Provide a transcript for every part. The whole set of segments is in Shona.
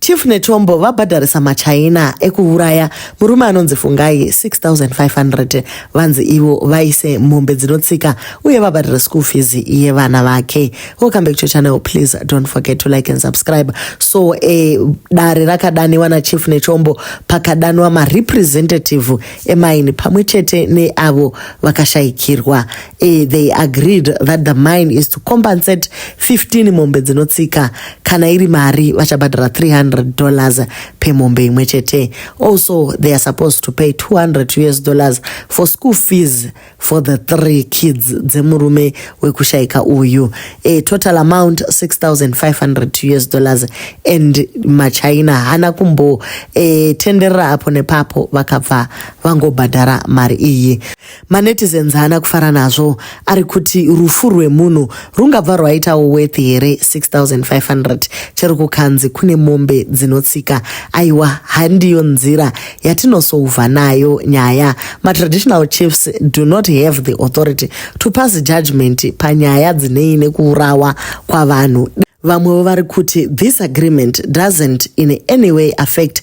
Chief Nechombo vabhadharisa maChina ekuuraya murume anonzi Fungai 6500 vanzi ivo vaise mombe dzinotsika uye vabhadhare school fees yevana vake. Welcome back to your channel please don't forget to like and subscribe. So eh, dare rakadaniwa naChief Nechombo pakadanwa marepresentative emaini pamwe chete neavo vakashaikirwa Eh, they agreed that the mine is to compensate 15 mombe dzinotsika kana iri mari vachabhadhara 300 dollars per mombe imwe chete also they are supposed to pay 200 us dollars for school fees for the three kids dzemurume wekushayika uyu a total amount 6500 us dollars and machina hana kumbo e, tenderera apo nepapo vakabva vangobhadhara mari iyi Manetizens haana kufara nazvo ari kuti rufu rwemunhu rungabva rwaitawo worth here 6500 chero kukanzi kune mombe dzinotsika aiwa handiyo nzira yatinosouva nayo nyaya matraditional chiefs do not have the authority to pass judgment panyaya dzinei nekuurawa kwavanhu vamwewo vari kuti this agreement doesn't in any way affect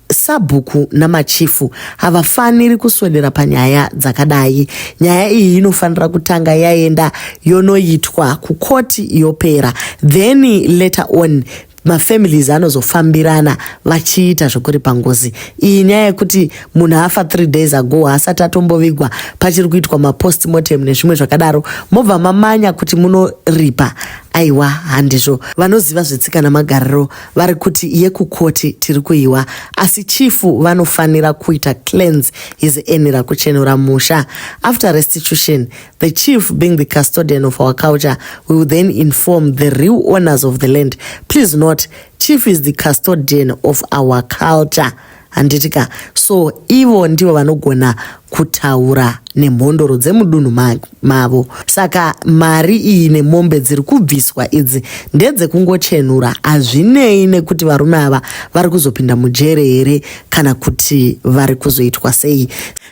Sabhuku namachifu havafaniri kuswedera panyaya dzakadai. Nyaya iyi inofanira kutanga yaenda yonoitwa kukoti yopera then later on mafamilies anozofambirana vachiita zvekuripa ngozi iyi nyaya yekuti munhu afa three days ago haasati atombovigwa pachiri kuitwa mapostmortem nezvimwe zvakadaro mobva mamanya kuti munoripa aiwa handizvo vanoziva zvetsika namagariro vari kuti yekukoti tiri kuiwa asi chifu vanofanira kuita cleanse his enira kuchenura musha after restitution the chief being the custodian of our culture we will then inform the real owners of the land please not chief is the custodian of our culture handiti ka so ivo ndivo vanogona kutaura nemhondoro dzemudunhu mavo saka mari iyi nemombe dziri kubviswa idzi ndedzekungochenura hazvinei nekuti varume ava vari kuzopinda mujere here kana kuti vari kuzoitwa sei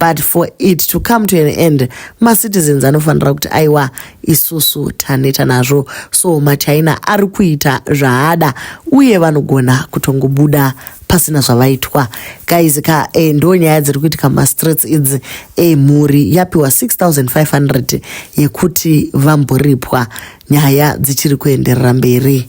but for it to come to an end macitizens anofanira kuti aiwa isusu taneta nazvo so machina ari kuita zvaada uye vanogona kutongobuda pasina zvavaitwa guys ka e, ndo nyaya dziri kuitika mumastreets idzi e, mhuri yapiwa 6500 yekuti vamboripwa nyaya dzichiri kuenderera mberi